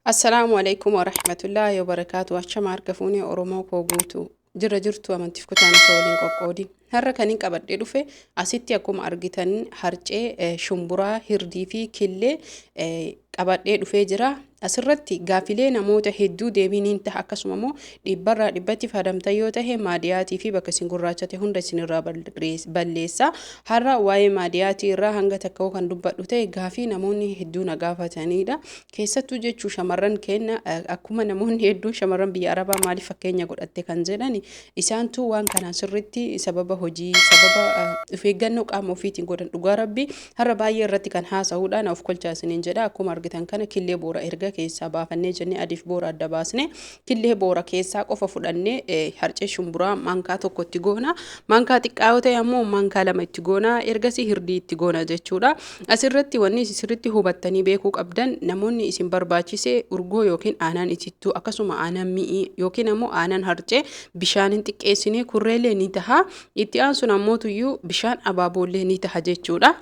Assalaamu alaikum wa rahmatullahi wa barakaatu. Achama harka fuunee Oromoo koo guutu. Jirra jirtu amantiif kutaan osoo waliin qoqqoodin. Har'a kanin qabadhee dhufe asitti akkuma argitan harcee, eh, shumburaa, hirdii fi killee eh, qabadhee dhufee jira. Asirratti gaafilee namoota hedduu deebiin hin taha akkasuma immoo Dhibbarraa dhibbatti faadamtan yoo tahe maadiyaatii fi bakka isin gurraachate hunda isinirraa balleessa. Har'a waa'ee maadiyaatii irraa hanga takka'uu kan dubbadhu ta'e gaafii namoonni hedduu na gaafataniidha. Keessattuu jechuu shamarran kenna akkuma namoonni hedduun shamarran biyya Arabaa maaliif fakkeenya godhatte kan jedhan isaantu waan kanaan sirriitti sababa hojii sababa of eeggannoo qaama ofiitiin godhan dhugaa rabbi har'a baay'ee irratti kan haasa'uudha na of kolchaa isiniin jedha akkuma argitan kana killee boora erga keessaa baafannee jennee adiif boora adda baasne Killee boora keessaa qofa fudhannee eh, harcee shumburaa maankaa tokko itti goona. Maankaa xiqqaa yoo ta'e ammoo maankaa lama itti goona. Ergasii hirdii itti goona jechuudha. Asirratti wanni isin sirriitti hubattanii beekuu qabdan namoonni isin barbaachise urgoo yookiin aanaan itittuu akkasuma aanaan mi'ii yookiin ammoo aanaan harcee bishaan hin xiqqeessine kurreellee ni taha. Itti aansuun ammoo tuyyuu bishaan abaaboollee ni taha jechuudha.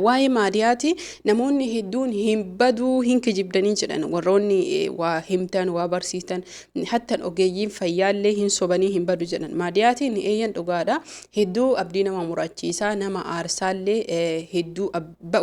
Waa'ee maadiyaati namoonni hedduun hin baduu hin kijibdanii jedhan warroonni waa himtan waa barsiistan hattan ogeeyyiin fayyaallee hin sobanii hin badu jedhan maadiyaatiin eeyyan dhugaadha hedduu abdii nama murachiisaa nama aarsaallee hedduu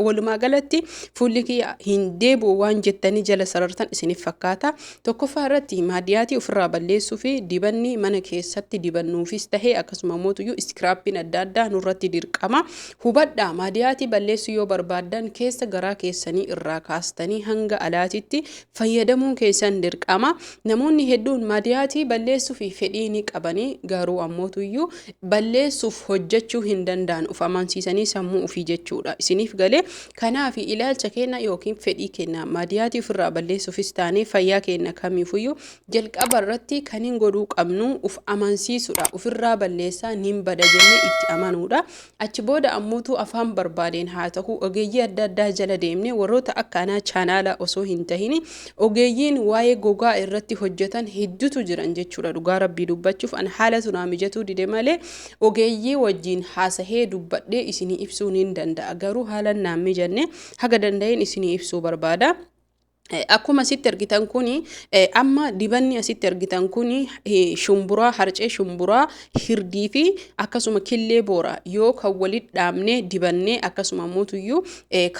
walumaa galatti fuulli kiyya hin deebi'u waan jettanii jala sarartan isiniif fakkaata Tokkoffaa irratti maadiyaatii ofirraa balleessuu fi dibanni mana keessatti dibannuufis tahee akkasuma mootuyyuu iskiraappiin adda addaa nurratti dirqama. Hubadhaa maadiyaatii balleessuu yoo barbaaddan keessa garaa keessanii irraa kaastanii hanga alaatitti fayyadamuun keessan dirqama. Namoonni hedduun maadiyaatii balleessuuf fedhii ni qabanii garuu ammootuyyuu balleessuuf hojjechuu hin danda'an of amansiisanii sammuu ofii jechuudha. Isiniif galee Kanaafi, ilaalcha keenna yookiin fedhii keenna maadiyaatii ufirraa balleessuufis taanee fayyaa keenna kamiifuyyuu jalqaba irratti kanin godhuu qabnu uf amansiisuudha. Ufirraa balleessaa nin bada jennee itti amanuudha. Achi booda ammootuu afaan barbaadeen haa ta'uu ogeeyyii adda addaa jala deemnee warroota akka anaa chaanaalaa osoo hin tahini ogeeyyiin waa'ee gogaa irratti hojjetan heddutu jiran jechuudha. Dhugaa rabbii dubbachuuf an haalatu naa mijatuu dide malee Ogeeyyii wajjiin haasahee dubbadhee isinii ibsuu niin danda'a. Garuu haalan naan mijanne haga danda'een isinii ibsuu barbaada. Akkuma asitti argitan kuni amma dibanni asitti argitan kuni shumburaa harcee shumburaa hirdii fi akkasuma killee boora yoo kan walit dhaabnee dibannee akkasuma mootuyyuu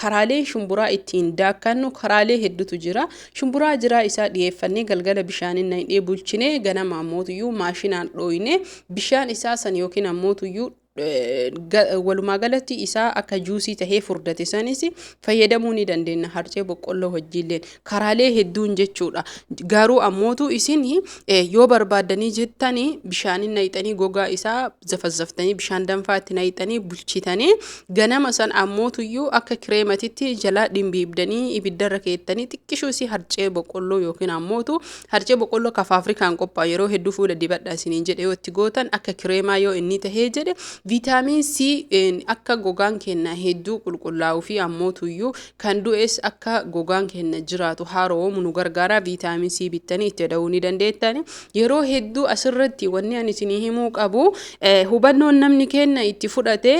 karaaleen shumburaa ittiin daakkannu karaalee heddutu jira shumburaa jiraa isaa dhiyeeffannee galgala bishaaniin naqnee bulchinee ganama mootuyyuu maashinaan dhooyne bishaan isaa san yookiin ammoo tuyyuu walumaa galatti isaa akka juusii tahee furdate sanis fayyadamuu ni dandeenya harcee boqqolloo wajjiilleen karaalee hedduun jechuudha garuu ammootu isin yoo barbaaddanii jettanii bishaanin nayxanii gogaa isaa zafazzaftanii bishaan danfaa itti nayxanii bulchitanii ganama san ammootuyyuu akka kireematitti jalaa dhimbiibdanii ibiddarra keettanii xiqqishuu isii harcee boqqolloo yookiin ammootu Harcee boqqolloo ka faafrikaan qophaa'u yeroo hedduu fuula dibadhaa isiniin jedhe yoo itti gootan akka kireemaa yoo inni tahee jedhe viitaamiin C akka gogaan keenna hedduu qulqullaa'uu fi ammootuyyuu kan du'es akka gogaan keenna jiraatu haaroomu nu gargaara viitaamiin C bittanii itti da'uu ni dandeettani yeroo hedduu asirratti wanni ani isinii himuu qabu hubannoon namni keenna itti fudhate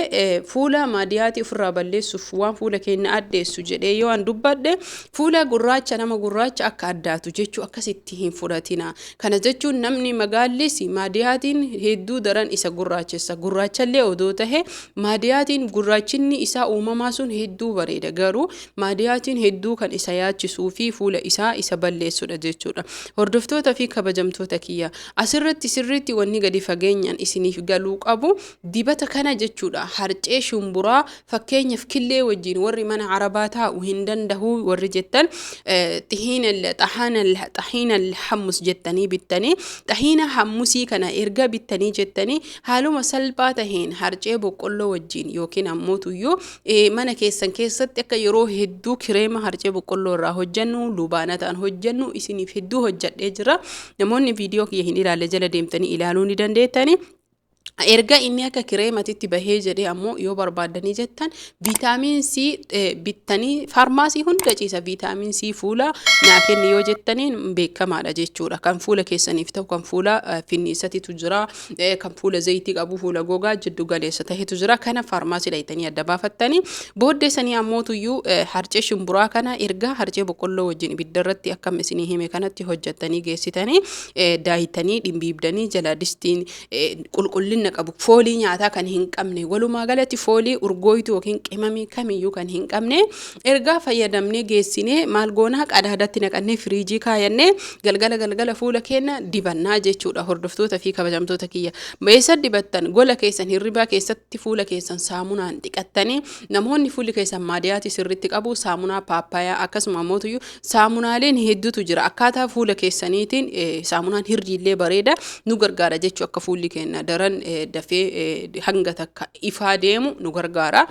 fuula maadiyaatii ofirraa balleessuuf waan fuula keenna addeessu jedhee yoo an dubbadhe Fuula gurraacha nama gurraacha akka addaatu jechuu akkasitti hin fudhatinaa. Kana jechuun namni magaallis maadiyaatiin hedduu daran isa gurraachessa. Gurraachallee odoo tahe maadiyaatiin gurraachinni isaa uumamaa sun hedduu bareeda. Garuu maadiyaatiin hedduu kan isa yaachisuu fi fuula isaa isa balleessudha jechuudha. Hordoftoota fi kabajamtoota kiyya asirratti sirriitti wanni gadi fageenyaan isiniif galuu qabu dibata kana jechuudha harcee shumburaa Fakkeenyaf killee wajjiin warri mana arabaa taa'u hin dandahu warri jettan xihiinal xahaanal xahiinal hammus jettanii bittanii xahiina hammusii kana erga bittanii jettanii haaluma salphaa taheen harcee boqqolloo wajjiin yookiin ammoo tuyyuu mana keessan keessatti akka yeroo hedduu kireema harcee boqqolloo irraa hojjannu lubaanataan hojjannu isiniif hedduu hojjadhee jira namoonni viidiyoo kiyya hin ilaalle jala deemtanii ilaaluu ni dandeettanii Erga inni akka kireematitti bahee jedhee ammoo yoo barbaaddanii jettan viitaamiin C eh, bittanii faarmaasii hunda ciisa viitaamiin C fuula naa kenni yoo jettaniin beekamaadha jechuudha. Kan fuula keessaniif ta'u kan fuula eh, finniisatitu jira eh, kan fuula zayitii qabu fuula gogaa jiddu galeessa ta'etu jira. Kana faarmaasii dhayitanii adda baafattanii booddee sanii ammootuyyuu eh, harcee shimburaa kana erga harcee boqqolloo wajjin ibidda irratti akkam isinii hime kanatti hojjettanii geessitanii eh, daayitanii dhimbiibdanii jala distiin qulqullinna qabu foolii nyaataa kan hin qabne walumaa galatti foolii urgooytuu yookiin qimamii kamiyyuu kan hin qabne ergaa fayyadamnee geessinee maal goonaa qadaadatti naqannee firiijii kaayannee galgala galgala fuula keenya dibannaa jechuudha hordoftoota fi kabajamtoota kiyya beessa dibattan gola keessan hirribaa keessatti fuula keessan saamunaan dhiqattanii namoonni fuulli keessan maadiyaati sirritti qabu saamunaa paappayaa akkasuma mootuyyuu Saamunaaleen hedduutu jira. Akkaataa fuula keessaniitiin saamunaan hirriillee bareeda nu gargaara jechuu akka fuulli keenya daran dafee hanga takka ifaa deemu nu gargaara.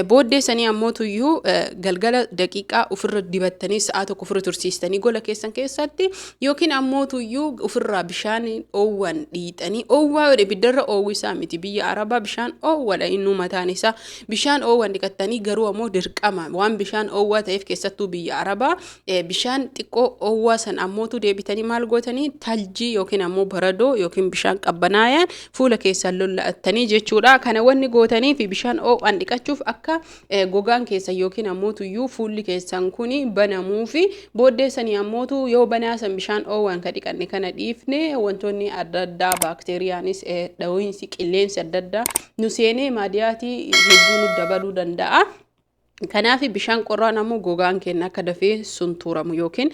Booddee sanii ammoo tuyyuu galgala daqiiqaa ofirra dibattanii sa'aa tokko ofirra tursiistanii gola keessan keessatti yookiin ammoo tuyyuu ofirraa bishaan oowwan dhiixanii oowwaa ibiddarra oowwisaa miti biyya arabaa bishaan oowwadha innuu mataan isaa Bishaan oowwan dhiqattanii garuu ammoo dirqama waan bishaan oowwaa ta'eef keessattuu biyya Arabaa bishaan xiqqoo oowwaa san ammootu deebitanii maal gootanii taljii yookiin ammoo baradoo yookiin bishaan qabbanaayaan fuula keessan lolla'attanii jechuudha. Kana wanni gootanii fi bishaan oowwaan dhiqachuuf akka gogaan keessan yookiin ammootu iyyuu fuulli keessan kun banamuu fi booddeessanii ammootu yoo banaa san bishaan oowwaan ka dhiqanne kana dhiifne wantoonni adda addaa baakteeriyaanis dhawiinsi qilleensi adda addaa nu seenee maadiyaatii hedduu nu dabaluu danda'a. Kanaaf bishaan qorraan ammoo gogaan keenya akka dafee suntuuramu yookiin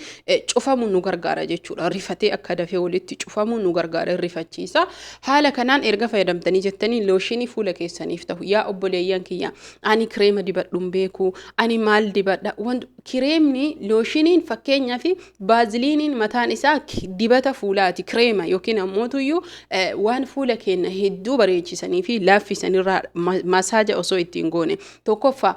cufamu nu gargaara jechuudha. Rifatee akka dafee walitti cufamu nu gargaara rifachiisa. Haala kanaan erga fayyadamtanii jettanii looshinii fuula keessaniif ta'u. Yaa obboleeyyan kiyya ani kireema dibadhuun beeku ani maal dibadha. Kireemni looshiniin fakkeenyaaf Baaziliiniin mataan isaa dibata fuulaati, kireema yookiin ammootuyyuu waan fuula keenya hedduu bareechisanii fi laaffisan irraa masaaja osoo ittiin goone tokkoffaa.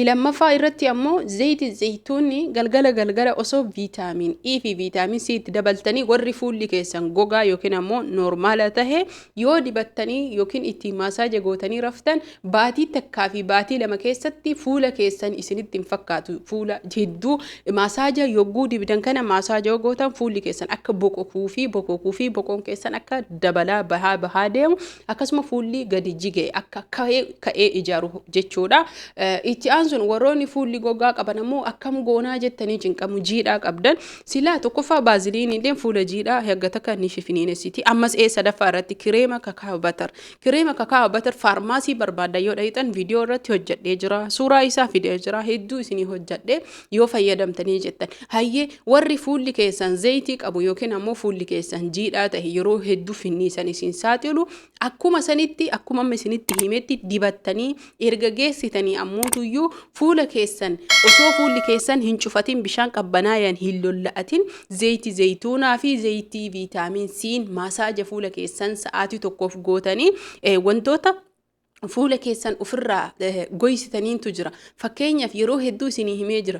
Lammaffaa irratti ammoo zayiti zayituunni galgala galgala osoo viitaamiin E fi viitaamiin C itti dabaltanii warri fuulli keessan gogaa yookiin ammoo noormaala tahe yoo dibattanii yookiin ittiin masaaja gootanii raftan Baatii takkaa fi baatii lama keessatti fuula keessan isinitti hin fakkaatu. Fuula hedduu maasaaja yogguu dibdan kana maasaaja yoo gootan fuulli keessan akka boqokuu fi bokokuu fi boqoon keessan akka dabalaa bahaa bahaa deemu akkasuma fuulli gadi jige akka ka'ee ka'ee ijaaru jechuudha. Eh, Itti aansuun warroonni fuulli gogaa qaban ammoo akkam goonaa jettanii cinqamu jiidhaa qabdan silaa tokkoffaa baaziliiniilleen fuula jiidhaa hanga takka ni fifiniinessiti ammas ee sadaffaa irratti kireema kakaabatar Kireema kakaa'aa batar faarmaasii barbaaddan yoo dhahitan viidiyoo irratti hojjedhee jira. Suuraa isaa fidee jira. Hedduu isinii hojjedhee yoo fayyadamtanii jettan. Hayyee warri fuulli keessan zayitii qabu yookiin ammoo fuulli keessan jiidhaa ta'e yeroo hedduu finniisan isin saaxilu akkuma sanitti akkuma amma isinitti himetti dibattanii Erga geessitanii ammootuyyuu fuula keessan osoo fuulli keessan hin cufatin bishaan qabbanaayaan hin lolla'atin zeeyti zeeytuunaa fi zeeytii viitaamiin siin maasaaja fuula keessan sa'aatii tokkoof gootanii wantoota fuula keessan ofirraa goysitaniintu jira. Fakkeenyaaf yeroo hedduu isinii himee jira.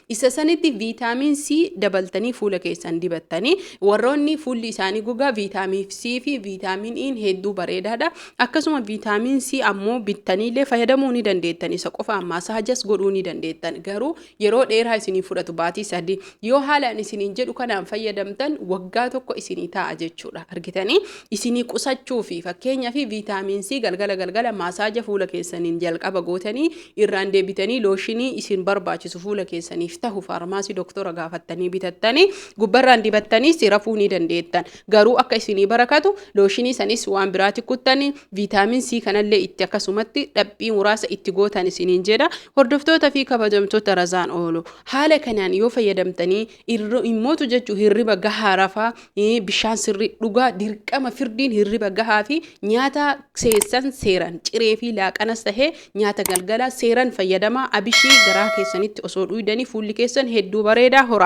Isa sanitti viitaamin C dabaltanii fuula keessan dibattanii warroonni fuulli isaanii gogaa viitaamin C fi viitaamin I'n hedduu bareedaadha. Akkasuma viitaamin C ammoo bittaniillee fayyadamuu ni dandeettan. Isa qofaan masaajas godhuu ni dandeettan. Garuu yeroo dheeraa isinii fudhatu baatii sadii. Yoo haalaan isiniin jedhu kanaan fayyadamtan waggaa tokko isinii taa'a jechuudha. Argitanii? isinii qusachuufi. Fakkeenyaaf Vitamin C galgala galgala maasaaja fuula keessaniin jalqaba gootanii irraan deebitanii looshinii isin barbaachisu fuula keessaniif tahu faarmaasii doktora gaafattanii bitattanii gubbarraan dibattaniis rafuu ni dandeettan. Garuu akka isinii barakatu looshinii sanis waan biraati kuttanii Vitamin C kanallee itti akkasumatti dhaphii muraasa itti gootan isiniin jedha. Hordoftoota fi kabajamtoota razaan oolu. Haala kanaan yoo fayyadamtanii Irra immootu jechuun hirriba gahaa rafaa, ee, bishaan sirrii dhugaa, dirqama firdiin hirriba gahaa fi nyaata seessan seeran ciree fi laaqanas tahee nyaata galgalaa seeran fayyadamaa abishii garaa keessanitti osoo dhuydanii fuulli keessan hedduu bareedaa horaa